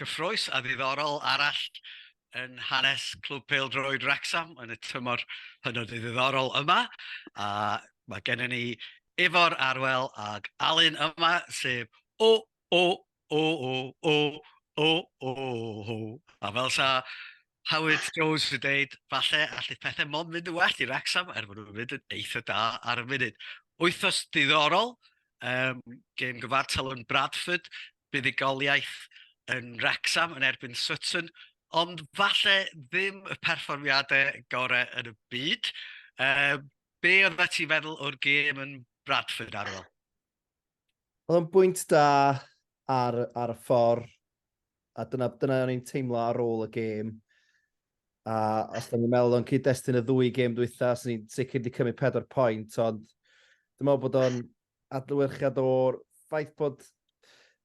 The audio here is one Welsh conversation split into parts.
Cyffrous a ddiddorol arall yn hanes Clwb Pêl-droed Wrecsam yn y tymor hynod ddiddorol yma. A mae gennym ni Ifor Arwel ac Alun yma, sef O O O O O O O O. A fel 'sa Howard Jones yn deud, falle allith pethau mond mynd yn well i Wrecsam er bod nhw'n mynd yn eitha da ar y funud. Wythnos ddiddorol, gêm gyfartal yn Bradford, buddugoliaeth yn Wrecsam yn erbyn Sutton, ond falle ddim y perfformiadau gorau yn y byd. Uh, be oedd ti'n feddwl o'r gêm yn Bradford ar ôl? Oedd o'n bwynt da ar, ar y ffordd, a dyna, dyna o'n i'n teimlo ar ôl y gêm. A os da ni'n meddwl o'n cyd-destun y ddwy gêm dwytha, os ni'n sicr wedi cymryd pedwar pwynt, ond dwi'n meddwl bod o'n adlewyrchiad o'r ffaith bod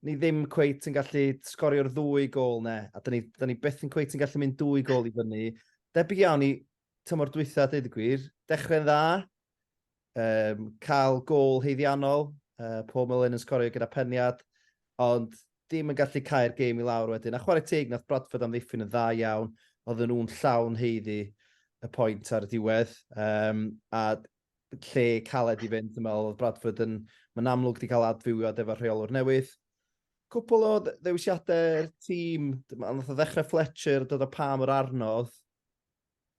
ni ddim cweit yn gallu sgorio'r ddwy gol ne, a da ni, da ni beth yn cweit yn gallu mynd dwy gol i fyny. Debyg iawn i tymor dwytha, dweud y gwir. Dechrau'n dda, um, cael gol heiddiannol, uh, Paul Mullen yn sgorio gyda peniad, ond dim yn gallu cael gêm i lawr wedyn. A chwarae teg, nath Bradford amddiffyn yn dda iawn, oedden nhw'n llawn heiddi y pwynt ar y diwedd. Um, a lle caled i fynd, dwi'n meddwl, oedd Bradford yn, mae'n amlwg wedi cael adfywiad efo'r rheolwr newydd. Cwpl o ddewisiadau'r tîm, ond oedd ddechrau Fletcher, dod o pam yr arnodd,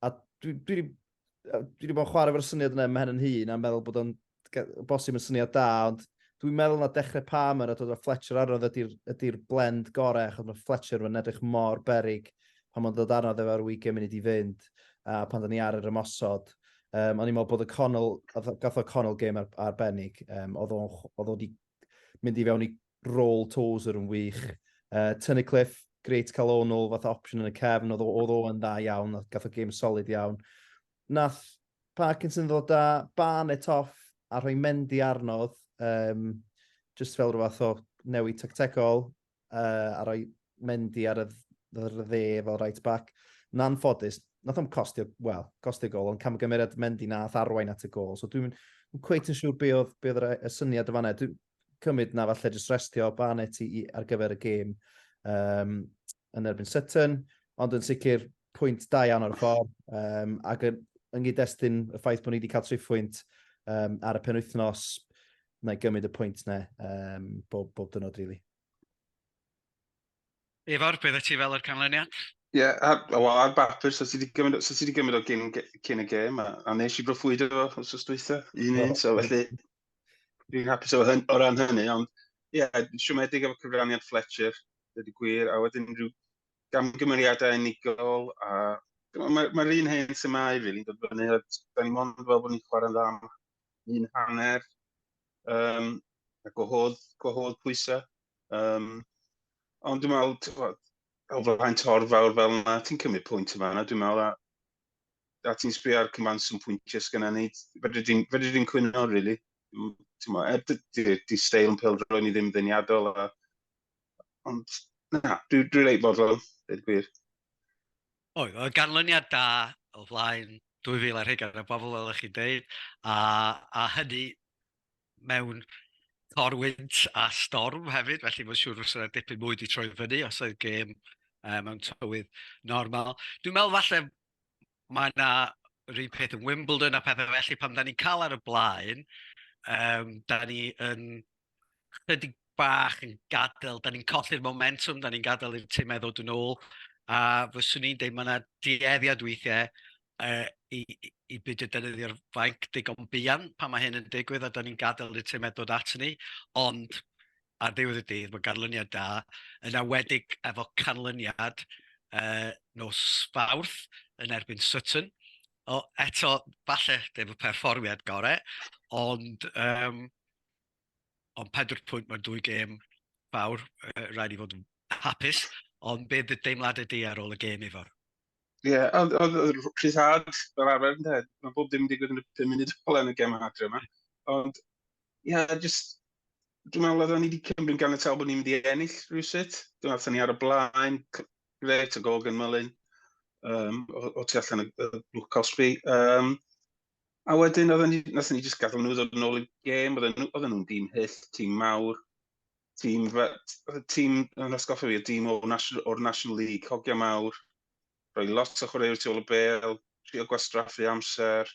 a dwi, dwi, dwi wedi bod yn chwarae fo'r syniad yna mae hyn yn hun, a'n meddwl bod o'n bosib yn syniad da, ond dwi'n meddwl na dechrau pam yr a dod o Fletcher arnodd ydy'r ydy blend gorau, achos mae Fletcher yn edrych mor berig pan o'n dod arno ddo ar weekend munud i fynd a pan do'n ni ar yr ymosod yym o'n i'n me'wl bod y Connell gath o gath o Connell gêm ar- arbennig yym o'dd o'n chw- o'dd o 'di mynd i fewn i rôl Tozer yn wych. Yy Tunnicliffe grêt ca'l o nôl fatha opsiwn yn y cefn o'dd o o'dd o yn dda iawn nath gath o gêm solid iawn. Nath Parkinson ddod â Barnett off a rhoi Mendy arno o'dd yym jyst fel ryw fath o newid tactegol yy a roi mendi ar y ddd- ar y dde fel right back. Yn anffodus, nath o'm costio, wel, costio gol, ond camgymeriad Mendy nath arwain at y gol. So dwi'n yn cweit yn siŵr be oedd, be oedd yr, y syniad y fanna. Dwi'n cymryd na falle jyst restio Barnett i, i, ar gyfer y gêm um, yn erbyn Sutton, ond yn sicr pwynt da iawn o'r ffordd, um, ac yn, yn gyd-destun y ffaith bod ni wedi cael triphwynt um, ar y penwythnos, na i gymryd y pwynt na um, bob, bob dynod, rili. Really. Ifor, beth y ti fel yr canlyniad? Ie, yeah, wel, ar bapur, so ti wedi gymryd, so ti wedi gymryd o gyn, cyn y gêm, a, a nes i broffwydo fo os oes dweitha, un un, so felly, fi'n hapus o, hyn, o ran hynny, ond ie, yeah, siomedig efo cyfraniad Fletcher, dydy gwir, a wedyn rhyw gamgymeriadau unigol, a mae'r ma, ma un hen semau, rili, really, dod fyny, a da ni mond fel bod ni'n chwarae'n dda un hanner, um, a gwahodd, gwahodd pwysau. Um, ond dwi'n meddwl, ti'n gwybod, o flaen tor fawr fel yna, ti'n cymryd pwynt yma yna, dwi'n meddwl, a, a ti'n sbio ar cymaint sy'n pwyntiau sy'n gyda ni, fedri di'n fedri di'n cwyno, really. Mm, ti'n meddwl, er, di, di, di steil yn pel droed ni ddim ddeniadol, a, ond, na, dwi'n dwi reit fodlon, dweud gwir. Oedd, oedd ganlyniad da o flaen 2,000 ar hugain o bobl, fel ydych chi'n dweud, a, a hynny mewn corwynt a storm hefyd, felly mae'n siŵr fysa yna dipyn mwy wedi troi fyny os oedd gêm um, mewn tywydd normal. Dwi'n meddwl falle mae yna yr un peth yn Wimbledon a pethau felly, pan da ni'n cael ar y blaen, um, da ni yn chydig bach yn gadael, da ni'n colli'r momentum, da ni'n gadael i'r tîm meddwl dyn nhw, a fyswn i'n dweud mae yna dueddiad weithiau uh, i, i, i byd y defnyddio'r fainc digon buan pan mae hyn yn digwydd a da ni'n gadael i'r tîm meddwl at ni, ond ar ddiwedd y dydd mae ganlyniad da, yna wedig efo canlyniad uh, nos fawrth yn erbyn Sutton, o, eto, falle dim y perfformiad gorau, ond um, ond pedwar pwynt mewn dwy gêm fawr, uh, rhaid i fod yn hapus, ond beth y deimladau di ar ôl y gêm Ifor? Ie, yeah, oedd yr rhyddhad fel arfer yn dweud, mae bob dim yn digwydd yn y 5 munud ôl yn y gem adre yma, ond ie, yeah, just, dwi'n meddwl oedden ni wedi cymryd gan y tal bod ni'n mynd i ennill rhywsut, dwi'n meddwl ni ar y blaen, gret o gol gan Mylun, um, o, o tu allan y, y blwc cosbi. Um, A wedyn, oedden ni, nath ni jyst gadael nhw ddod yn ôl i gêm, oedden nhw, oedden nhw'n dîm hyll, tîm mawr, tîm, tîm, yn osgoffa fi, y tîm o'r National, or National League, hogia mawr, rhoi lot o chwaraewyr tu ôl y bel, trio gwastraffu amser,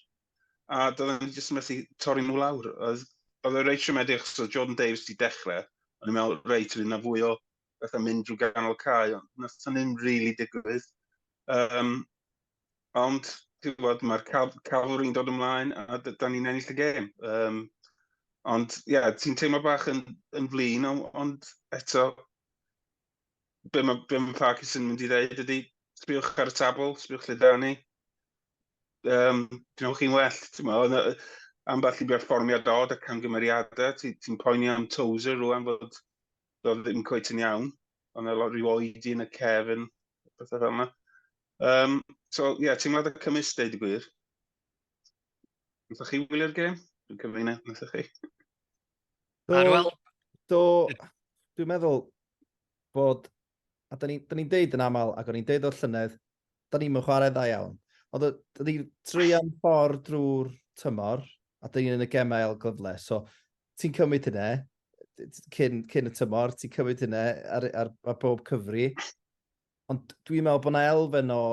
a doedden ni jyst yn methu torri nhw lawr. Oedd, oedd y reit siomedig, achos oedd Jordan Davies wedi dechrau, ond i'n meddwl, reit, oedd yna fwy o bethau mynd drwy ganol cae, ond nath hynny'n rili really digwydd. Um, Ond, ti'n gwybod, mae'r cal calori'n dod ymlaen a da ni'n ennill y gêm. Um, ond, ie, yeah, ti'n teimlo bach yn, yn flin, ond eto, be mae, be mae Parkis yn mynd i ddeud ydy, sbiwch ar y tabl, sbiwch lle da ni. Um, Dynewch chi'n well, ti'n meddwl, am bell i berfformiad dod ac camgymeriadau, ti'n ti poeni am Tozer rwan fod dod ddim coet yn iawn. Ond mae lot rhyw oedi yn y cefn, bethau fel yna. Um, so, ie, yeah, teimlad y cymys, deud y gwir. Nothoch chi wylio'r gêm? Dwi'n cyfeina, nothoch chi? Do, Arwel? Do, dwi'n meddwl bod, a da ni'n ni, ni deud yn aml, ac o'n i'n deud o'r llynedd, da ni'n mynd chwarae dda iawn. Ond da ni'n treian ffordd drwy'r tymor, a da ni'n yn y gemau el gyfle. So, ti'n cymryd hynny, cyn, cyn y tymor, ti'n cymryd hynna ar, ar, ar bob cyfri. Ond dwi'n meddwl bod yna elfen o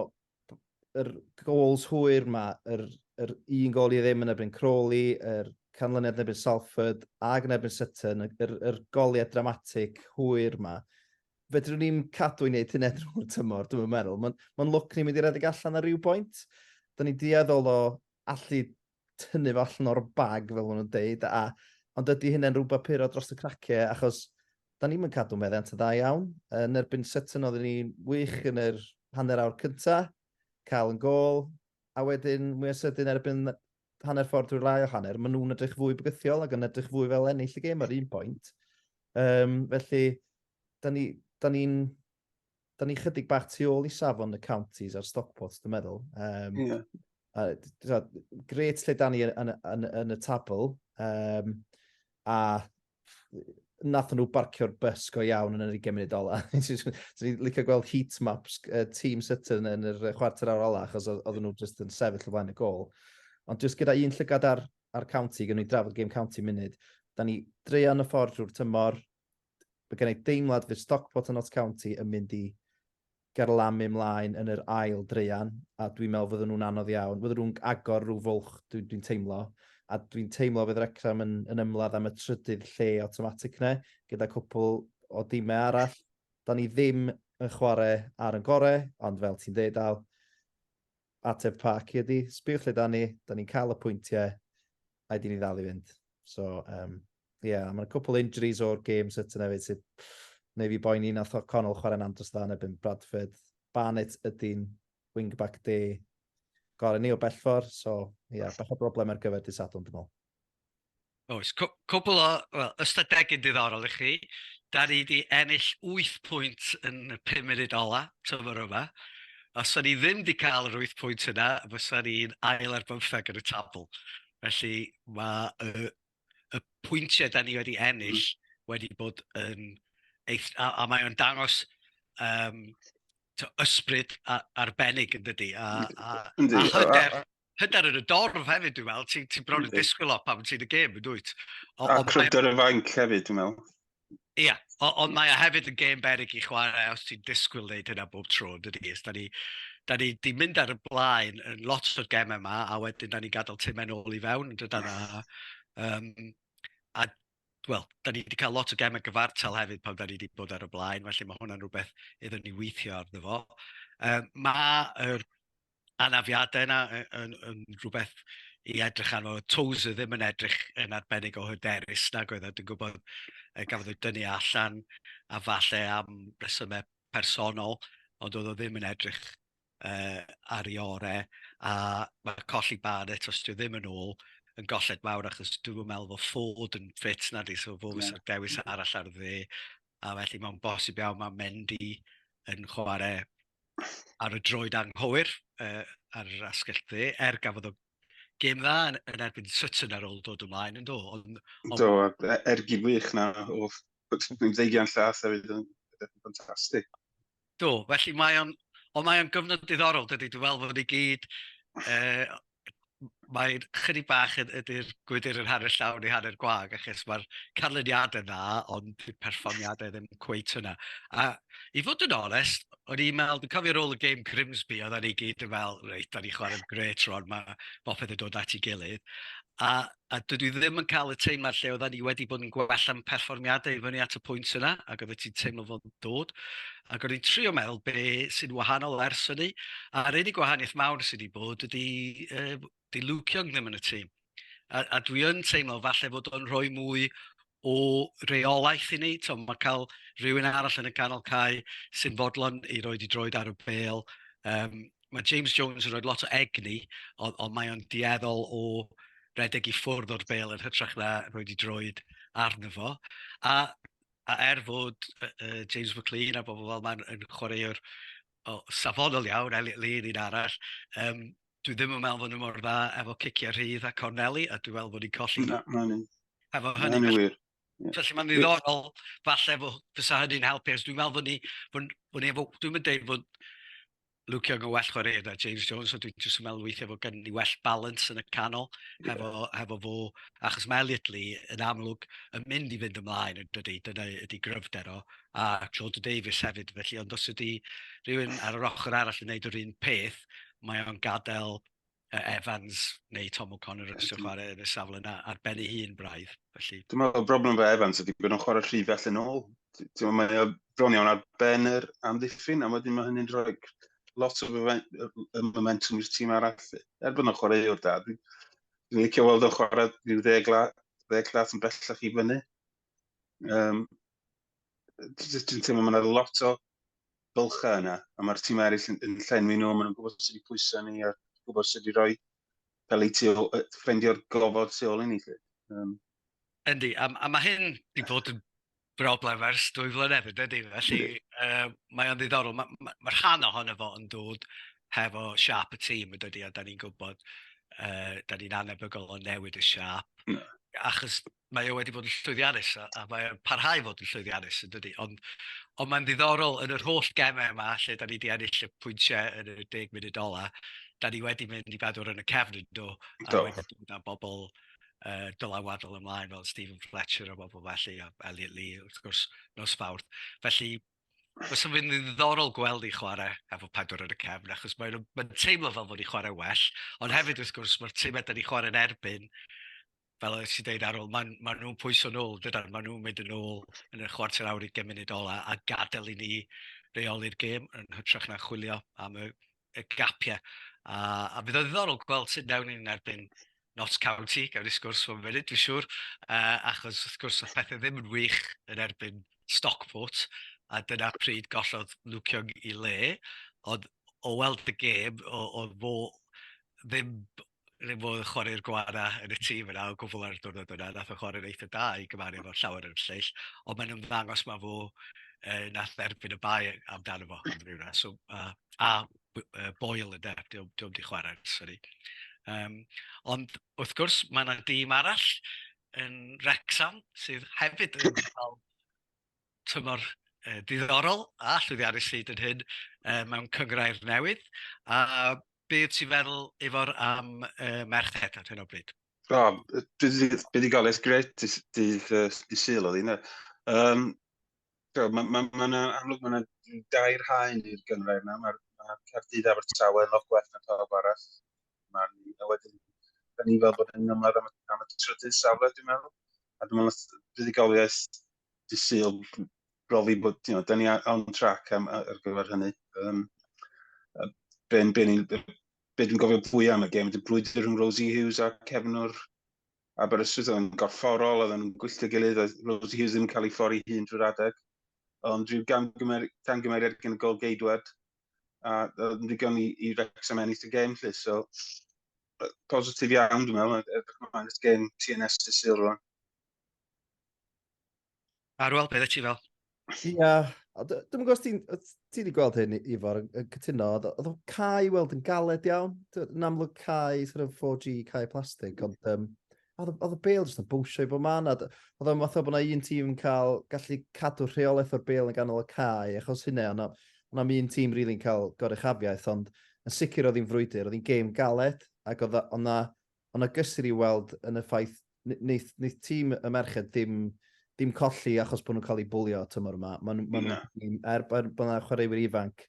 yr gols hwyr yma, yr, yr un gol i ddim yn erbyn Crawley, yr canlyniad yn erbyn Salford ac yn erbyn Sutton, yr, yr goliad dramatic hwyr yma. Fedrwn ni'n cadw i wneud hyn edrych o'r tymor, dwi'n meddwl. Mae'n ma lwc ni'n mynd i'r edrych allan ar ryw bwynt. Da ni'n dueddol o allu tynnu fo allan o'r bag fel ma' nw'n deud a ond ydi hynna'n rwbath puro dros y cracie achos 'dan ni'm yn cadw meddiant yn dda iawn. Yn erbyn Sutton oeddwn ni'n wych yn yr hanner awr cynta, cael yn gol, a wedyn mwy o sydyn erbyn hanner ffordd drwy'r lai o hanner, ma' nhw'n edrych fwy bygythiol ac yn edrych fwy fel ennill y gêm ar un pwynt. Um, felly, da ni'n ni, da ni da ni chydig bach tu ôl i safon y counties a'r Stockports, dwi'n meddwl. Um, yeah. a, so, gret lle da ni yn, yn, yn, yn y tabl. Um, a nath nhw barcio'r bus go iawn yn yr 20 munud ola. Dwi'n licio gweld heat maps uh, tîm Sutton yn yr chwarter awr ola, achos oedd nhw just yn sefyll o flaen y gol. Ond just gyda un llygad ar, ar county, gyda ni drafod game county munud, da ni dreian y ffordd drwy'r tymor, Mae gen i deimlad fydd Stockport a Notts County yn mynd i garlamu mlaen yn yr ail dreian, a dwi'n meddwl fydden nhw'n anodd iawn. Fydden nhw'n agor rhyw fwlch, dwi'n dwi teimlo. A dwi'n teimlo fydd Wrecsam yn, yn ymladd am y trydydd lle automatic ne, gyda cwpl o dimau arall. Da ni ddim yn chwarae ar yn gorau, ond fel ti'n dweud Al, Ateb Parky ydi, sbiwch lle da ni, da ni'n cael y pwyntiau, a di ni ddal i fynd. So, um, yeah, mae'n cwpl injuries o'r game set yna fyd sydd neu fi boen un atho Connell chwarae'n andros dda yn ebyn Bradford. Barnett ydy'n wingback de gorau ni o bellfor, so ie, yeah, bach o broblem ar gyfer dydd Sadwrn dwi'n meddwl. Oes, cwbl o, wel, ystadegyn diddorol i chi. Da ni wedi ennill 8 pwynt yn y 5 munud ola, tyfwr yma. Os o'n ni ddim wedi cael yr 8 pwynt yna, fysa ni'n ail ar bymtheg yn y tabl. Felly mae y, y pwyntiau da ni wedi ennill mm. wedi bod yn... Eith, a, a mae o'n dangos um, to, ysbryd arbennig yn dydy, a, a, a, a hyder. Hyder yn y dorf hefyd, dwi'n meddwl. Ti'n ti bron yn disgwyl o pan ti'n y gêm, yn dwyt? A cryfder y fainc hefyd, dwi'n meddwl. Ie, yeah, ond mae e hefyd yn gêm berig i chwarae os ti'n disgwyl wneud hynna bob tro, dydy. Ys, da ni, da ni di mynd ar y blaen yn lot o'r gemau yma, a wedyn da ni'n gadael timau'n ôl i fewn, dydan, a, um, a wel, da ni wedi cael lot o gemau gyfartal hefyd pan da ni wedi bod ar y blaen, felly mae hwnna'n rhywbeth iddyn ni weithio arno fo. Um, Mae'r anafiadau yna yn, yn rhywbeth i edrych arno. Toes ddim yn edrych yn arbennig o hyderus nag oedd, a dwi'n gwybod e, gafodd ei dynnu allan a falle am resymau personol, ond oedd o ddim yn edrych uh, ar ei orau, a mae colli bad eto, os ddim yn ôl, yn golled mawr achos dwi'n meddwl fod ffod yn ffit na di, so fod yeah. dewis arall ar dde, a felly mae'n bosib iawn mae'n mynd i yn chwarae ar y droed anghywir uh, ar yr asgell dde, er gafodd o gêm dda yn, yn erbyn Sutton ar ôl dod ymlaen yn do. Ond, on... Do, e, ergyd wych na o ddeigian llath hefyd yn ffantastig. Do, felly mae o'n, ond mae o'n gyfnod diddorol, dydy, dwi'n meddwl bod ni gyd, uh, mae'n chydig bach yn ydy'r gwydr yn hanner llawn neu hanner gwag, achos mae'r canlyniadau dda, ond dyw perfformiadau ddim cweit hwnna. A i fod yn onest, o'n i'n meddwl, dwi'n cofio rôl y gêm Grimsby, oedden ni gyd yn meddwl, reit, da ni chwarae'n gret rwan, mae bopeth yn dod at ei gilydd. A a dydw i ddim yn cael y teimlad lle oedden ni wedi bod yn gwella'n perfformiadau i fyny at y pwynt yna, ac oeddet ti'n teimlo fod yn dod. Ac o'n i'n trio meddwl be sy'n wahanol ers hynny, a'r unig wahaniaeth mawr sydd wedi bod ydy, uh, di Luke Young ddim yn y tîm. A, a dwi yn teimlo falle fod o'n rhoi mwy o reolaeth i ni, tibod mae cael rhywun arall yn y ganol cae sy'n fodlon i roi ei droed ar y bêl. Um, mae James Jones yn rhoi lot o egni, ond, ond mae o'n dueddol o redeg i ffwrdd o'r bêl yn hytrach na rhoi ei droed arno fo. A, a er fod uh, uh, James McLean a bobl fel mae'n yn chwaraewr oh, safonol iawn, Elliot Lee yn un arall, um, dwi ddim yn meddwl fod nhw mor dda efo ciciau rhydd a corneli, a dwi'n meddwl bod ni'n colli... Na, na ni. Efo hynny... Na ni wir. Felly mae'n ddiddorol, falle fo, fysa hynny'n helpu, os dwi'n meddwl fod ni, fod, fod ni efo, dwi'n mynd deud fod Luke Young yn well chwarae na James Jones, so dwi'n jyst yn meddwl weithiau fod gen ni well balance yn y canol, yeah. hefo, hefo fo, achos mae Elliot Lee yn amlwg yn mynd i fynd ymlaen, yn dydy, dyna ydy gryfder o, a Jordan Davies hefyd, felly ond os ydy rhywun ar yr ochr arall yn gwneud yr un peth, mae o'n gadael uh, Evans neu Tom O'Connor yn ystod chwarae yn y safle yna ar ben ei hun braidd. Felly... Dwi'n meddwl, y broblem fe Evans ydy bod o'n chwarae rhy fell yn ôl. Dwi'n meddwl, mae bron iawn ar ben yr amddiffyn, a wedyn mae hynny'n rhoi lot o momentum i'r tîm arall. Er bod o'n chwarae o'r da, dwi'n dwi licio weld o'n chwarae rhyw ddeg, la, ddeg lat yn bellach i fyny. Um, dwi'n teimlo mae yna lot o bylchau yna, a mae'r tîm eraill yn, yn llenwi nhw, maen nhw'n gwybod sydd wedi pwysau ni, a gwybod sydd wedi rhoi cael ei tu ôl, ffrindio'r gofod tu ôl i ni. Um. Yndi, a, a mae hyn wedi bod yn broblem ers dwy flynedd, ydy, felly uh, mae o'n ddiddorol. Mae ma, ma rhan ohono fo yn dod hefo siap y tîm, ydy, a da ni'n gwybod, uh, da ni'n anebygol o newid y siap, achos mae o wedi bod yn llwyddiannus a, a mae'n parhau i fod yn llwyddiannus yn dydy. Ond, ond mae'n ddiddorol yn yr holl gemau yma lle da ni wedi ennill y pwyntiau yn y deg munud ola, da ni wedi mynd i bedwr yn y cefn yn do, a do. wedi dod â bobl uh, dylanwadol ymlaen fel Stephen Fletcher a bobl felly, a Elliot Lee wrth gwrs nos fawrth. Felly Os yn fynd yn ddiddorol gweld i chwarae efo pedwar yn y cefn, achos mae'n mae teimlo fel bod i chwarae well, ond hefyd wrth gwrs mae'r tîm ydyn ni chwarae'n erbyn fel oedd ti'n dweud Arul, maen ma nhw'n pwyso nôl, dydan, maen nhw'n mynd yn ôl yn y chwarter awr i gymuned ola a gadael i ni reoli'r gêm yn hytrach na chwilio am y, y gapiau. A, a bydd o ddiddorol gweld sut newn ni'n erbyn Notts County, gawn ni sgwrs fo'n funud, dwi'n siŵr, uh, achos wrth gwrs oedd pethau ddim yn wych yn erbyn Stockport, a dyna pryd gollodd Luke Young i le, ond o weld y gêm, o, o fo ddim ddim modd chwarae'r gwara yn y tîm yna o gwbl ar y diwrnod yna, nath o chwarae'n eitha da i gymaru efo'r llawer yn lleill, ond mae'n ymddangos mae fo uh, nath dderbyn y bai amdano fo am ryw ras, so, uh, a uh, boel yn der, diwm, diwm di chwarae, sori. Um, ond wrth gwrs mae yna dîm arall yn Wrexham sydd hefyd yn cael tymor uh, diddorol a llwyddiannus hyd yn hyn uh, mewn cyngrair newydd. A beth ti'n feddwl efo'r am uh, merched ar hyn o bryd? O, buddugoliaeth gret dydd, dydd, dydd syl oedd yna. Um, so, mae ma, ma, ma amlwg mae yna dair haen i'r gyngrair yna. Mae'r ma Cardydd Abertawe yn lot gwell na pawb arall. Mae'n un o wedyn, da ni'n fel bod yn ymladd am, am y trydydd safle, dwi'n meddwl. A dwi'n meddwl, buddugoliaeth di syl brofi bod, you know, da ni on track am, ar gyfer hynny. Um, be, be, be, be dwi'n gofio fwy am y gem, dy brwydr rhwng Rosie Hughes a Kevin o'r Aberystwyth, oedd yn gorfforol, oedd yn gwylltio gilydd, oedd Rosie Hughes ddim yn cael ei ffori hun drwy'r adeg. Ond rhyw gamgymeriad gan y gol geidwad, a oedd yn ddigon i, i Wrexham ennill y gêm lle, so positif iawn dwi'n meddwl, edrych ymlaen at gêm TNS y Sul rwan. Arwel, beth ti fel? Ia, dwi'n gwybod os ti, ti wedi gweld hyn, Ifor, yn cytuno, oedd o cae weld yn galed iawn, yn amlwg cae sort of 4G, cae plastig, ond um, oedd y bel jyst yn bwysio i bob man. Oedd o'n fath o bod yna un tîm yn cael gallu cadw rheolaeth o'r bel yn ganol y cae, achos hynny, ond yna mi un tîm rili'n cael goruchafiaeth, ond yn sicr oedd hi'n frwydr, oedd hi'n gêm galed, ac oedd yna, oedd yna gysur i weld yn y ffaith, wneud, wneud tîm y merched ddim, ddim colli achos bod nhw'n cael eu bwlio tymor yma. Maen nhw, maen nhw, er, er bod yna chwaraewyr ifanc,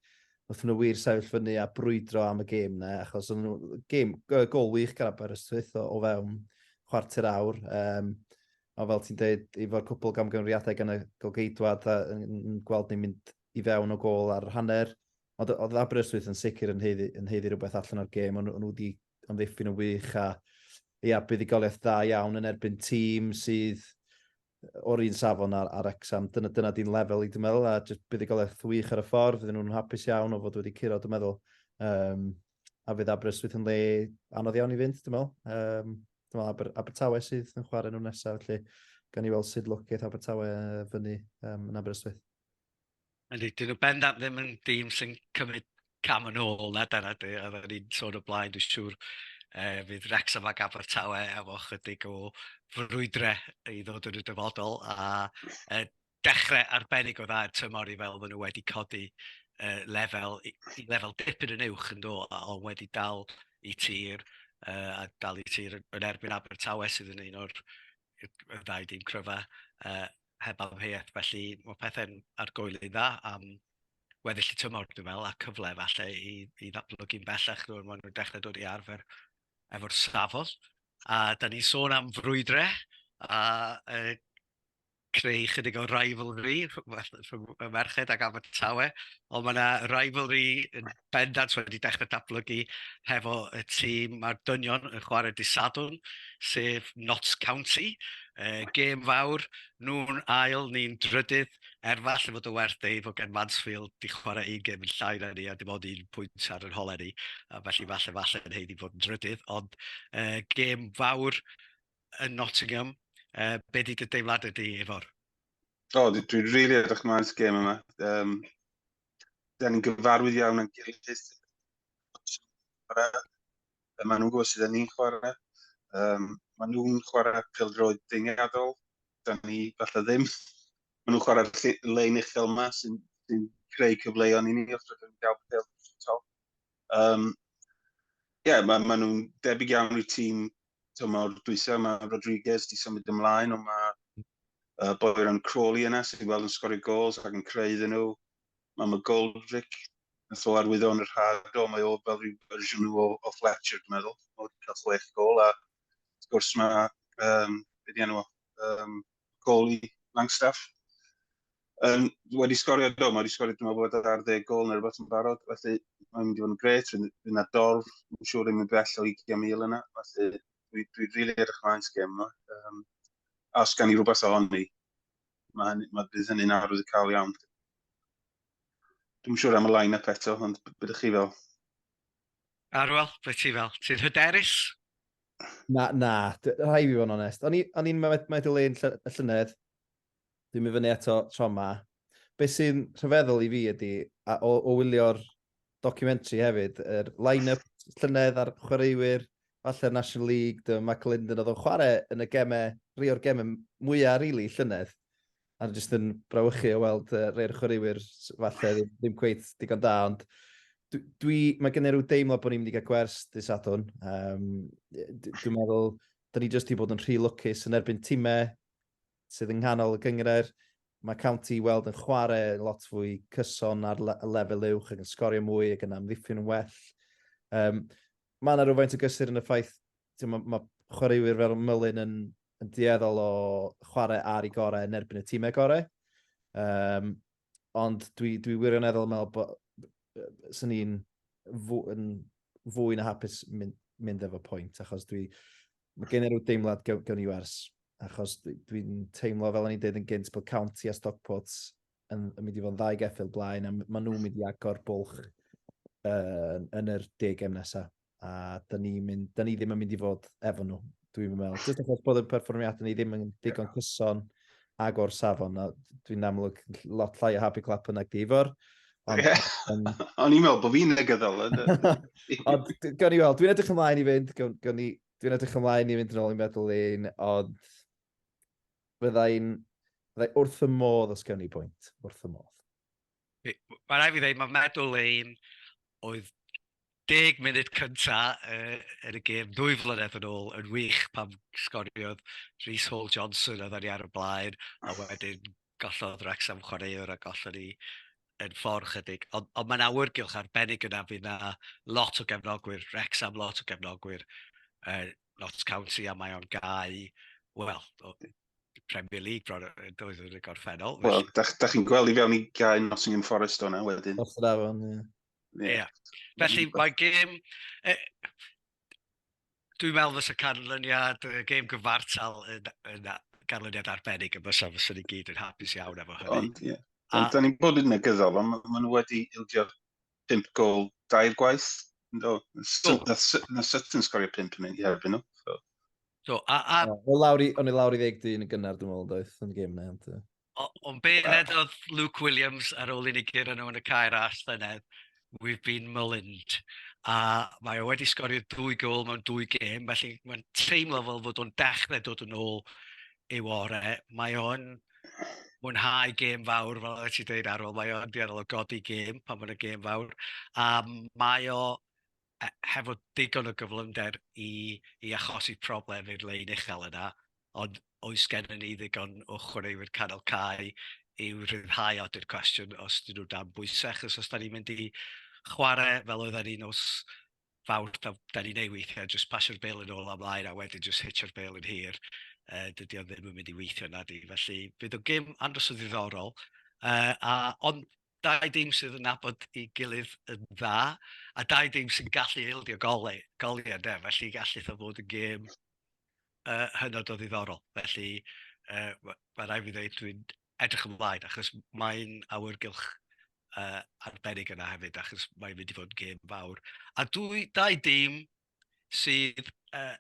Nathon nw wir sefyll fyny a brwydro am y gêm 'na achos o'n n'w gêm yy gol wych gan Aberystwyth o o fewn chwarter awr yym a fel ti'n deud efo'r cwpwl gamgymeriadau gan y golgeidwad a yn yn yn gweld ni'n mynd i fewn o gôl ar yr hanner ond o- o'dd Aberystwyth yn sicir yn haeddu yn haeddu rwbeth allan o'r gêm o'n nw o'n nw 'di amddiffyn yn wych a ia buddugoliaeth dda iawn yn erbyn tîm sydd o'r un safon ar, ar Exam. Dyna, dyna di'n lefel i, dwi'n meddwl, a jyst buddigoliaeth wych ar y ffordd. Fydden nhw'n hapus iawn o fod wedi curo, dwi'n meddwl. Um, a fydd Aberystwyth yn le anodd iawn i fynd, dwi'n meddwl. Um, dwi'n meddwl Aber, Abertawe sydd yn chwarae nhw'n nesaf, felly gan i weld sut lwceth Abertawe fyny um, yn Aberystwyth. Yndi, dyn nhw bendant ddim yn dîm sy'n cymryd cam yn ôl na dyna dwi, a fe ni'n sôn o blaen, dwi'n siŵr e, fydd Rex yma gaf o'r tawe efo chydig o frwydre i ddod yn y dyfodol, a e, dechrau arbennig o dda yn tymor i fel maen nhw wedi codi e, lefel, i, i lefel dipyn yn uwch yn do, a ond wedi dal i tir, e, a dal i tir yn erbyn Abertawe sydd yn un o'r ddau dîm cryfa, e, heb amheuaeth. Felly, mae pethau'n argoeli'n dda am weddill y tymor, dwi'n meddwl, a cyfle falle i, i ddatblygu'n bellach rwy'n maen nhw'n dechrau dod i arfer efo'r safol. A da ni'n sôn am frwydrau a e, creu chydig o rivalry rhwng y merched ac Abertawe, ond mae yna rivalry yn bendant wedi dechrau datblygu hefo y tîm. Mae'r dynion yn chwarae dydd Sadwrn, sef Notts County. Uh, gêm fawr, nhw'n ail, ni'n drydydd. Er falle fod y werth ei fod gen Mansfield di chwarae un gêm yn llai na ni a dim ond un pwynt ar yr holen ni. A felly falle falle yn heiddi fod yn drydydd. Ond uh, gêm fawr yn Nottingham. Uh, be di dy deimlad ydy efo'r? O, dwi'n rili edrych mlaen at gêm yma. Um, da ni'n gyfarwydd iawn yn gilydd. Mae nhw'n gwybod sydd yn ni'n chwarae. Um, mae nhw'n chwarae pildroed deiniadol. Da ni falle ddim. Mae nhw'n chwarae lein uchel yma sy'n sy creu cyfleoedd i ni os rydym yn cael pildroed. Um, yeah, mae ma nhw'n debyg iawn i'r tîm so mae'r dwysau, mae Rodriguez di symud ymlaen, ond mae uh, boer yn Crawley yna, sy'n gweld yn sgorio gols ac yn creu iddyn nhw. Mae mae Goldrick, yn tho arwyddo yn y rhad o, mae o fel rhyw fersiwn o, o Fletcher, dwi'n meddwl. Mae wedi cael chwech gol, a wrth gwrs mae, um, beth enw, um, gol i Langstaff. Um, wedi sgorio do, mae wedi sgorio dwi'n meddwl bod ar ddeg gol neu rhywbeth yn barod, felly mae'n mynd i fod yn gret, fi'n fi na dorf, yn siŵr yn mynd bell o 20,000 yna, felly dwi'n dwi rili really edrych mlaen sy'n gem yma. Um, a os gan i rhywbeth ohoni, mae, hynny, mae bydd hynny'n arwydd y cael iawn. Dwi'n siŵr am y line-up eto, ond bydych chi fel? Arwel, beth ti fel? Ti'n hyderus? Na, na. D- Rhai fi fod yn onest. O'n i o'n i'n mae mae dy le'n lly- y llynedd. Dwi'n mynd fyny eto tro ma. Be' sy'n rhyfeddol i fi ydi a o o wylio'r documentary hefyd yr line-up llynedd a'r chwaraewyr falle'r National League dy- Michael Linden odd o'n chware yn y geme rhei o'r geme m- mwya rili llynedd. A o'n i jyst yn brawychu o weld yy rei o'r chwaraewyr s- falle ddim ddim cweit digon da ond dw- dwi ma' gen i ryw deimlo bo' ni mynd i ga'l gwers dy' Sadwrn yym yy d- dwi'n meddwl 'dyn ni jyst 'di bod yn rhy lwcus yn erbyn time sydd yng nghanol y gynghrair. Ma' County i weld yn chware lot fwy cyson ar le- y lefel uwch ac yn sgorio mwy ac yn amddiffyn yn well. Yym ma' 'na rywfaint o gysur yn y ffaith ti'n ma, ma chwaraewyr fel Mullin yn, yn dueddol o chwarae ar ei gorau yn erbyn y tîmau gorau. Um, ond dwi, dwi wirioneddol yn meddwl bod sy'n ni'n fwy, fwy na hapus mynd, mynd efo pwynt, achos dwi, mae gen i rhyw deimlad gawn i wers, achos dwi'n dwi teimlo fel o'n i'n dweud yn gynt bod County a Stockport yn, yn mynd i fod yn ddau geffil blaen, a maen nhw'n mynd i agor bwlch uh, yn yr deg em nesaf. a da ni, mynd, da ni ddim yn mynd i fod efo nhw, dwi'n meddwl. Just achos bod y perfformiadau ni ddim yn digon cyson ag o'r safon, a dwi'n amlwg lot llai o happy clap yna di fo'r. Ond yeah. um, on i'n meddwl bod fi'n negyddol. ond gawn ni weld, dwi'n edrych ymlaen i fynd, gawn ni, dwi'n edrych ymlaen i fynd yn ôl i'n meddwl un, ond fyddai'n fyddai wrth y modd os gawn ni bwynt, wrth y modd. Mae'n rhaid fi ddeud, mae medal lane oedd deg munud cynta uh, yn y gêm ddwy flynedd yn ôl yn wych pam sgoriodd Rhys Hall Johnson a ddani ar y blaen a wedyn gollodd Rex am chwaraewr a gollodd ni yn ffordd chydig. Ond, ond mae'n awyrgylch arbennig yna fydd na lot o gefnogwyr, Rex am lot o gefnogwyr, uh, Notts County a mae o'n gau, wel, Premier League bron oedd yn y gorffennol. Wel, da, da chi'n gweld i fewn i gael Nottingham Forest o'na wedyn. Os yr afon, ie. Ie. Yeah. Felly mae gêm... E, dwi'n meddwl fes y canlyniad, y gêm gyfartal yn, yn ganlyniad arbennig y bysa fes i gyd yn hapus iawn efo hynny. Ond, ie. Ond da ni'n bod yn negyddol, ond maen nhw wedi ildio 5 gol dair gwaith. No, na syt yn sgorio 5 yn ei herbyn nhw. So. So, a, a... O, lawr i, o'n i lawr i ddeg dyn yn gynnar, dwi'n meddwl, doedd, yn y gym na. Ond be ddedodd Luke Williams ar ôl i ni gyr yno yn y cair as llynedd, we've been maligned. A mae o wedi sgorio dwy gol mewn dwy gêm, felly mae'n teimlo fel fod o'n dechrau dod yn ôl ei wore. Mae o'n mwynhau gêm fawr, fel oeddet ti'n dweud Arwel, mae o'n dueddol o godi gêm pan mae'n y gêm fawr, a mae o e, hefo digon o gyflymder i, i achosi problem i'r lein uchel yna, ond oes gennym ni ddigon o chwaraewyr canol cae i'w rhyddhau at yr cwestiwn os dyn nhw dan bwysau, achos os da ni'n mynd i chwarae fel oedden ni nos fawr, da, da ni'n ei weithiau, jyst pasio'r bel yn ôl amlaen a wedyn jyst hitio'r bel yn hir, uh, dydy o ddim yn mynd i weithio na di. Felly, bydd o gym andros o ddiddorol, uh, a, ond dau dim sydd yn nabod i gilydd yn dda, a dau dim sy'n gallu eildio gole, goliau, de, felly gallu o fod yn gêm uh, hynod o ddiddorol. Felly, uh, mae rai fi ddweud, dwi'n edrych ymlaen, achos mae'n awyrgylch uh, arbennig yna hefyd, achos mae'n mynd i fod yn gêm fawr. A dwy, dau dîm sydd uh,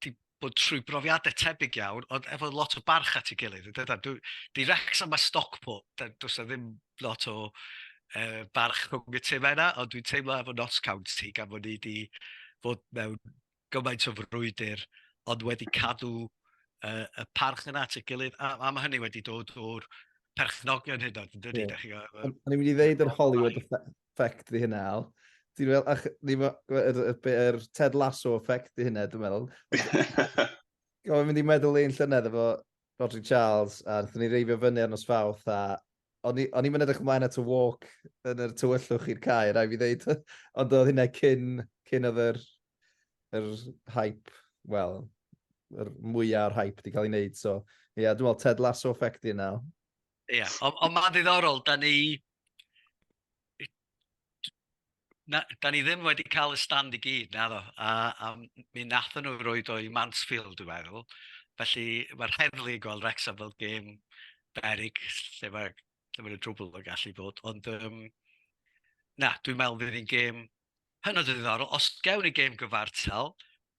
di bod trwy brofiadau tebyg iawn, ond efo lot o barch at ei gilydd. Dyda, dwi, di Rex am y Stockport, does na ddim lot o uh, barch rhwng y tîm yna, ond dwi'n teimlo efo Notts County, gan fod ni wedi fod mewn gymaint o frwydr, ond wedi cadw uh, y parch yna at y gilydd, a, a mae hynny wedi dod o'r perchnogion hyn oed, yn dydy? Yeah. O'n i'n mynd i ddeud yr Hollywood effect di hynna, Al. Ti'n meddwl, ach, ni ma, yr, yr, yr Ted Lasso effect i hynna, dwi'n meddwl. Gofyn mynd i meddwl ein llynedd efo Rodri Charles, a wnaethon ni reifio fyny ar nos fawth, a o'n i, o'n i'n edrych ymlaen at y walk yn yr tywyllwch i'r cae, rai fi ddeud. Ond oedd hynna cyn, cyn oedd yr, yr hype, wel, yr mwyaf o'r hype di cael ei wneud. So, ie, yeah, dwi'n meddwl Ted Lasso effect i yna. Ie, yeah. ond on mae'n ddiddorol, da ni, na, da ni ddim wedi cael y stand i gyd, na ddo. A, a mi nathon nhw roed o'i Mansfield, dwi'n meddwl. Felly mae'r heddlu yn gweld Wrexham fel gêm berig lle mae, lle mae drwbl yn gallu bod. Ond um, na, dwi'n meddwl bydd hi'n gêm hynod o ddiddorol. Os gewn ni gêm gyfartal,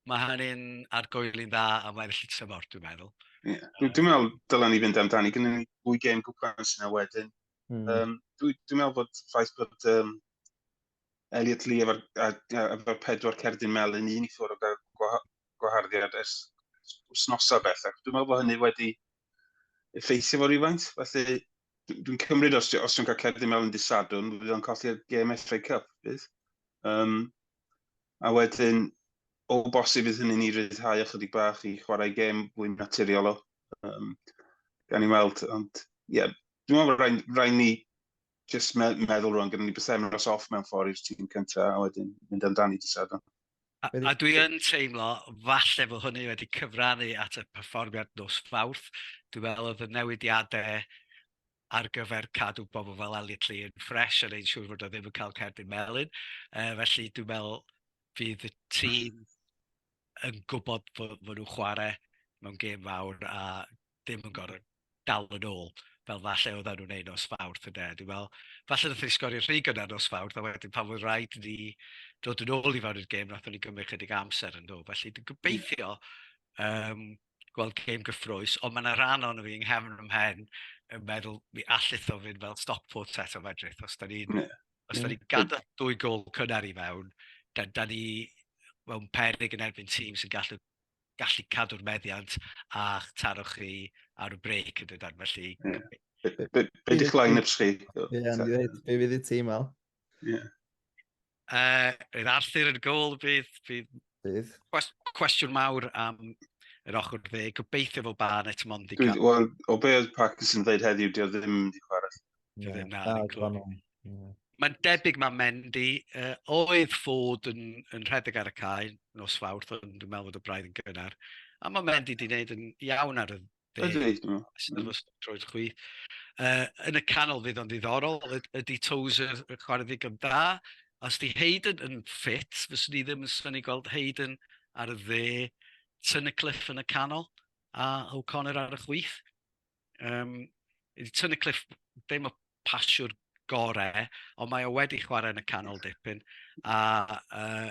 mae hynny'n argoeli'n dda am weddill y tymor, dwi'n meddwl. Yeah. Dwi'n meddwl dylen ni fynd amdani, gyda ni fwy gêm gwpan sy'n wedyn. Mm. Um, Dwi'n dwi meddwl bod ffaith bod um, Elliot Lee efo'r efo pedwar cerdyn melyn un i ffwrdd o gael gwaharddiad ers wsnosa bellach. Dwi'n meddwl bod hynny wedi effeithio fo rhywfaint, felly dwi'n cymryd os, os dwi'n cael cerdyn melyn disadwn, fydd o'n colli'r gêm FA Cup, bydd. Um, a wedyn, o bosib fydd hynny'n i ryddhau ychydig bach i chwarae gêm fwy naturiol o. Um, gan i weld, ond ie, yeah, Dwi'n meddwl rhaid, rhaid ni just me meddwl rwan, gyda ni bythefnos off mewn ffordd i'r tîm cyntaf, a wedyn mynd amdani dy sadwn. A, a dwi yn teimlo, falle fod hynny wedi cyfrannu at y perfformiad nos Fawrth. Dwi'n meddwl oedd y newidiadau ar gyfer cadw bobl fel Elliot Lee yn ffres yn ein siŵr fod o ddim yn cael cerdyn melyn. E, felly dwi'n meddwl fydd y tîm yn gwybod fod, fod nhw'n chwarae mewn gêm fawr a ddim yn gorfod dal yn ôl fel falle oedden nhw'n wneud nos Fawrth ynde. Dwi'n meddwl, falle wnaethon ni sgorio rhy gynnar nos Fawrth a wedyn pan oedd rhaid ni dod yn ôl i fewn i'r gêm wnaethon ni gymryd chydig amser yn nhw. Felly dwi'n gobeithio um, gweld gêm gyffrous, ond mae yna rhan o'n fi yng nghefn ym mhen yn meddwl mi allith o fynd fel stock port set o fedrith. Os da ni'n yeah. os da ni gadael dwy gol cynnar i fewn, da, da ni mewn perig yn erbyn tîm sy'n gallu gallu cadw'r meddiant a'ch taro chi ar y brec yn dydan, felly... Yeah. Be, be, be, be di'ch line-ups chi? Ie, yeah, be fydd y tîm al? Ie. Yeah. Uh, bydd Arthur yn gol, bydd, bydd, bydd. cwestiwn mawr am yr ochr dde. Gobeithio fod Barnett mond i cael... Wel, o be oedd Parkinson yn dweud heddiw, dio ddim wedi chwarae. Dio ddim na. Mae'n debyg mae Mendy uh, oedd fod yn, yn rhedeg ar y cae nos fawrth, ond dwi'n meddwl bod y braidd yn gynnar. A mae Mendy wedi gwneud yn iawn ar y dde. Sy'n dod troi'r chwi. Uh, yn y canol fydd o'n ddiddorol, ydy Tozer y chwarae ddigon da. Os di Hayden yn ffit, fyswn ni ddim yn syni gweld Hayden ar y dde, Tynycliffe yn y canol, a O'Connor ar y chwith. Yym, wedi tynnu cliff, ddim y pasiwr gorau, ond mae o wedi chwarae yn y canol dipyn, a, uh,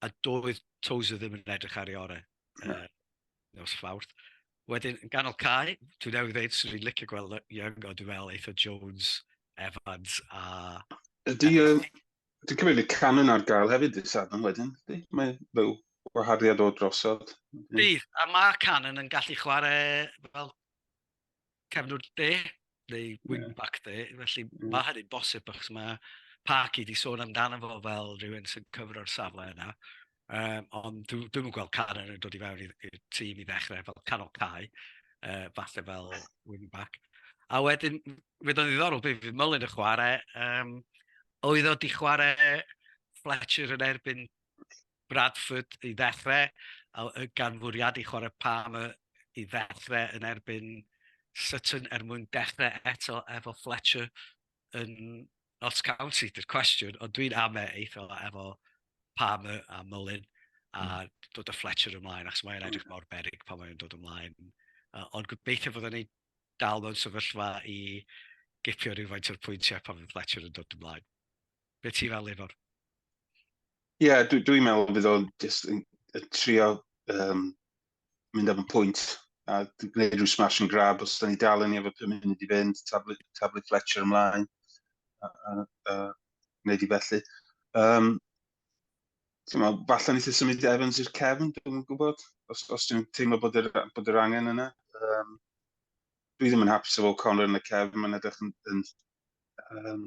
a doedd Tozer ddim yn edrych ar ei orau uh, nos fawrth. Wedyn, yn ganol cae, dwi'n newydd ddeud, swn i'n licio gweld Young, ond dwi'n meddwl eitho Jones, Evans a... Ydy, um, Dwi'n cymryd y can yna ar gael hefyd y Sadwrn wedyn. Mae fel gwahariad o drosod. Bydd, a mae Canon yn gallu chwarae fel cefnwr de, neu wingback de, felly mm. mae hynny'n bosib, achos mae Parky di sôn amdano fo fel rhywun sy'n cyfro'r safle yna. Um, ond dwi'n dwi gweld Canon yn dod i fewn i'r tîm i ddechrau fel canol cae, uh, falle fel wingback. A wedyn, fydd o'n ddiddorol, bydd Mullin y chwarae, um, Oedd o 'di chwarae Fletcher yn erbyn Bradford i ddechrau, a gan fwriadu chwarae Palmer i ddechrau yn erbyn Sutton er mwyn dechrau eto efo Fletcher yn Notts County, dy'r cwestiwn, ond dwi'n ame eitho efo Palmer a Mullin a hmm. dod o Fletcher ymlaen, achos mae'n edrych mor berig pan mae'n dod ymlaen. Uh, ond gobeithio fod o'n ei dal mewn sefyllfa i gipio rhywfaint o'r pwyntiau pan fydd Fletcher yn dod ymlaen. Be ti'n fel efo'r? Ie, yeah, dwi'n dwi meddwl bydd o'n just yn, yn trio um, mynd am y pwynt a gwneud rhyw smash and grab os da ni dal yn ei efo pum munud i fynd, tablu, tablu Fletcher ymlaen a, a, a gwneud i felly. Um, ti'n meddwl, falle nes i symud Evans i'r cefn, dwi'n gwybod, os, os dwi'n teimlo bod yr, bod yr angen yna. Um, dwi ddim yn hapus efo Connor yn y cefn, mae'n edrych yn, yn um,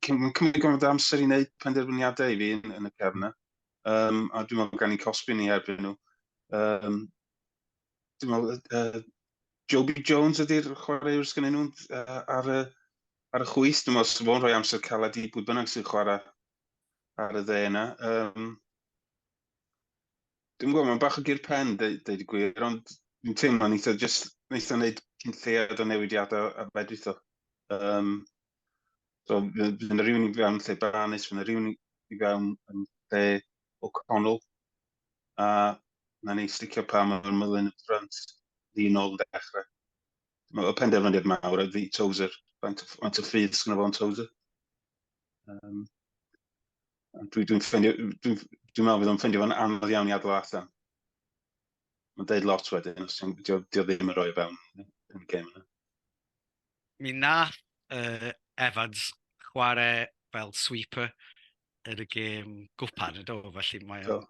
cymryd gwrdd amser i wneud penderfyniadau i fi yn, yn y cefn yna. Um, a dwi'n meddwl gan i cosbi ni erbyn nhw. Um, dwi'n meddwl, uh, Joby Jones ydy'r chwaraewr sy'n nhw'n uh, ar, y, ar y chwys. Dwi'n meddwl, sef o'n rhoi amser caled i bwy bynnag sy'n chwarae ar y dde yna. Um, Dwi'n gwybod, mae'n bach o gyr pen, dweud y gwir, ond dwi'n teimlo ni eitha, just wnaeth o'n gwneud cynlleiad o newidiadau a fedrith o. Um, so, fydd yna rhywun i fewn lle Barnes, fydd yna rhywun i fewn yn lle O'Connell, a na ni sticio pa mor mylun y ffrant ddyn ôl yn dechrau. Mae penderfyniad mawr a fi Tozer, faint o ffydd sy'n o'n Tozer. Um, Dwi'n dwi ffeindio, dwi'n dwi meddwl bydd o'n ffeindio fo'n anodd iawn i adal allan. Mae'n deud lot wedyn, os ti'n dio, dio ddim yn rhoi o fewn yn y gêm yna. Mi nath uh, Evans chwarae fel sweeper yn y gêm gwpan, ydo, felly mae o'n...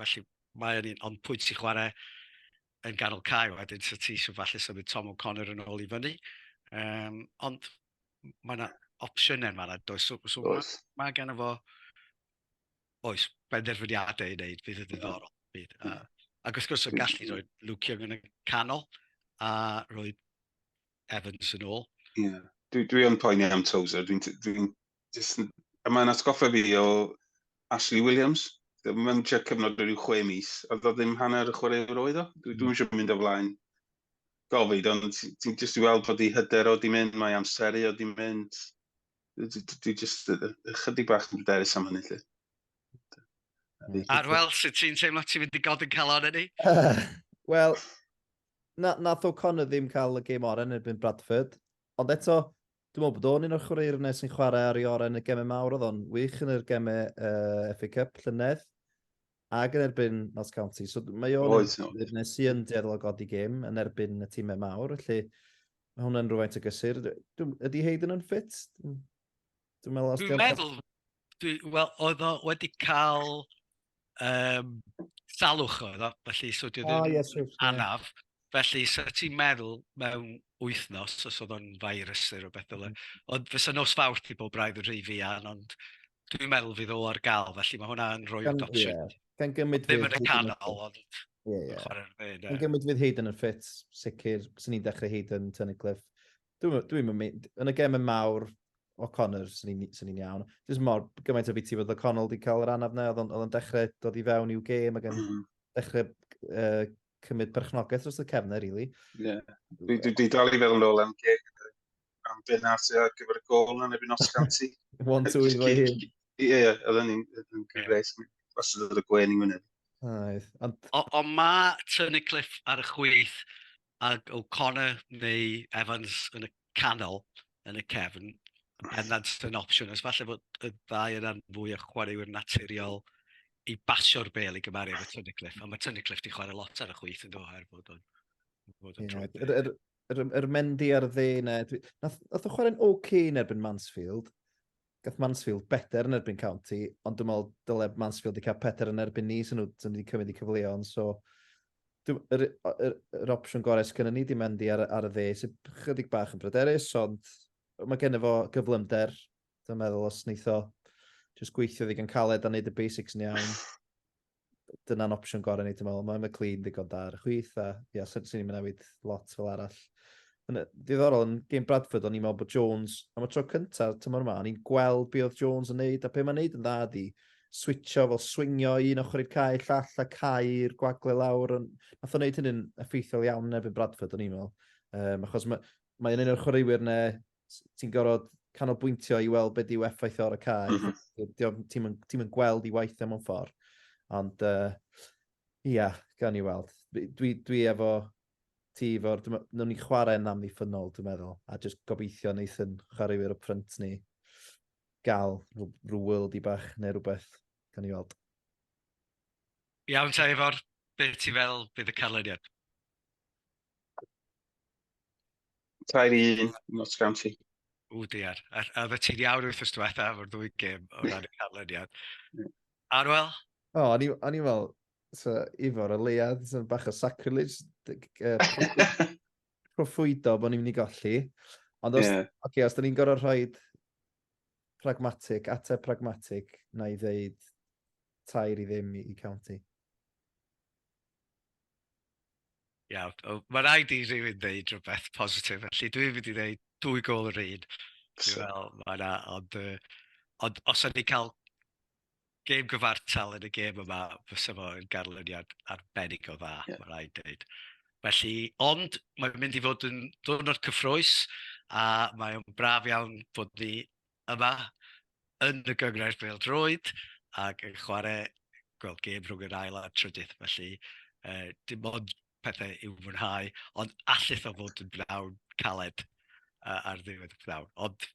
Felly mae o'n un, ond pwynt i chwarae yn ganol cael wedyn, so ti eisiau falle symud Tom O'Connor yn ôl i fyny. Um, ond mae yna opsiynau yma, na, does. So, so mae ma gan efo, oes, benderfyniadau i wneud, bydd yn ddiddorol. Bydd. A, ac wrth gwrs, o'n gallu rhoi Luke Young yn y canol, a rhoi Evans yn ôl. Yeah. Dwi, dwi yn poeni am Tozer, dwi'n... Dwi, dwi, a mae'n atgoffa fi o Ashley Williams. Mae'n mynd cyfnod o ryw chwe mis, a ddo ddim hanner y chwaraewr oedd o. Dwi'n dwi eisiau mynd o flaen Gofid, ond ti'n jyst i weld bod ei hyder o di mynd, mae amseru o di mynd. Dwi jyst ychydig bach yn bryderus am hynny, lle. Arwel, sut ti'n teimlo ti'n mynd i god yn calon yn ni? Wel, na, nath O'Connor ddim cael y gêm oren erbyn Bradford, ond eto, dwi'n meddwl bod o'n un o'r chwaraewyr yna sy'n chwarae ar ei oren y gemau mawr, oedd o'n wych yn yr gemau uh, FA Cup llynedd. Ac yn erbyn Notts County. So mae o'n Oes, oes. ddefnydd sy'n yn dueddol o godi gêm yn erbyn y tîmau mawr, felly mae hwnna'n rhywfaint o gysur. Dw- dw- Ydy Hayden yn ffit? Dwi'n dwi'n meddwl os Dwi'n diolch- meddwl, dwi, wel, oedd o wedi cael um, salwch oedd o, felly so dwi O, ddim ie, siwr, ie. anaf. Felly, sa ti'n meddwl mewn wythnos, os oedd o'n virus neu rywbeth fel hyn, mm. ond fysa nos fawrth i bob braidd yn rhy fuan, ond dwi'n meddwl fydd o ar gael, felly mae hwnna yn rhoi adoption. Yeah. Gan gymryd fydd... Ddim yn y canol, ond... Ie, ie. Gan gymryd fydd hyd yn y ffit, sicr, sy'n ni'n dechrau hyd yn Tynnu Cliff. Dwi'n dwi mynd, yn y gemau mawr, o Connor, sy'n ni'n iawn. Dwi'n mor gymaint o biti fod o Connor wedi cael yr anaf na, oedd o'n dechrau dod i fewn i'w gêm ac yn mm. dechrau uh, cymryd perchnogaeth dros y cefnau, rili. Ie. Dwi, dwi, dwi dal i feddwl yn ôl am geg am Ben Arthur ar gyfer y gol na neb yn os ganti. One, two, i fo'i hyn. Ie, ie, oedd yn ni'n gyfres. Os oedd y gwen i wyneb. Oedd. Ond... O, o mae Turney Cliff ar y chwith ac O'Connor neu Evans yn y canol yn y cefn, yn bendant yn opsiwn, os falle bod y ddau yna'n fwy o chwaraewyr naturiol i basio'r bel i gymaru efo Tunnicliffe, ond mae Tunnicliffe wedi chwarae lot ar y chwyth yn dod o'r bod o'n... Bod o'n yeah, yr, yr, yr, yr Mendy ar y dde yna, nath, nath o chwarae'n OK yn erbyn Mansfield, gath Mansfield beter yn erbyn County, ond dwi'n meddwl dyle Mansfield i cael peter yn erbyn ni, sy'n nhw wedi cymryd i cyfleon, so yr, yr, yr opsiwn gorau sydd gennym ni di mynd i ar, ar y dde, sy'n chydig bach yn bryderus, ond mae gen fo gyflymder, dwi'n meddwl os wneitho, jyst gweithio ddigon caled a wneud y basics yn iawn. dyna'n opsiwn gorau ni, ti'n meddwl. Mae McLean ddigon da ar y chwith, a ia, sy'n sy'n ni'n newid lot fel arall. Yn y- Diddorol, yn game Bradford, o'n i'n meddwl bod Jones, am y tro cyntaf tymor yma, o'n i'n gweld be oedd Jones yn neud, a be mae'n neud yn dda di, switcho fel swingio un ochr i'r cae llall a cae'r gwagle lawr. Yn... Nath o'n neud hynny'n effeithiol iawn yn erbyn Bradford, o'n i'n meddwl. Um, achos mae, mae'n un o'r chwaraewyr ne, s- ti'n gorfod canolbwyntio i weld be' 'dyw effaith e ar y cae. M-hm. Dy- dy- dio'm ti'm yn ti'm yn gweld 'i waith e mewn ffor. Ond yy ia, gawn ni weld. Fi dwi dwi efo ti efo'r dwi me- newn ni chware'n amddiffynnol dwi'n meddwl a jyst gobeithio neith 'yn chwaraewyr upfront ni ga'l rw rw worldie bach ne' rwbeth. Gawn ni weld. Iawn te Ifor, be' ti feddwl bydd y canlyniad? Tair i un, Notts County. O dear, a, a oedd y ti'n iawn wrth ystod diwetha o'r ddwy gym o ran y canlyniad. Arwel? O, o'n i'n fel, so, Ifor, o leiad, so, bach o sacrilege, proffwydo bod ni'n mynd i golli. Ond os, yeah. okay, os da ni'n gorau rhoi pragmatic, ateb pragmatic, na i ddeud tair i ddim i, i county. Iawn, wel ma' raid i rywun ddeud rwbeth positif, felly dwi'n mynd i ddeud dwy gôl yr un. Dwi'n meddwl ma' 'na ond yy ond os o'n ni'n cael gêm gyfartal yn y gêm yma fysa fo yn ganlyniad arbennig o dda... Ie. ...ma' raid deud. Felly ond mae'n mynd i fod yn ddiwrnod cyffrous a mae o'n braf iawn bod ni yma yn y Gynghrair Bêl-droed ac yn chwarae, gweld gêm rhwng yr ail a'r trydydd, felly uh, dim ond pethau i'w fwynhau, ond allith o fod yn bnawn caled uh, ar ddiwedd y bnawn. Ond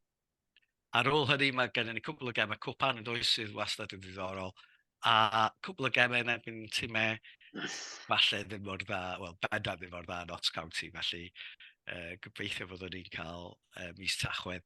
ar ôl hynny mae gennym ni cwbl o gemau cwpan yn does sydd wastad yn ddiddorol, a cwbl o gemau yn erbyn tîmau falle ddim mor dda, wel bendant ddim mor dda yn Ots County, felly uh, gobeithio bod ni'n cael uh, mis tachwedd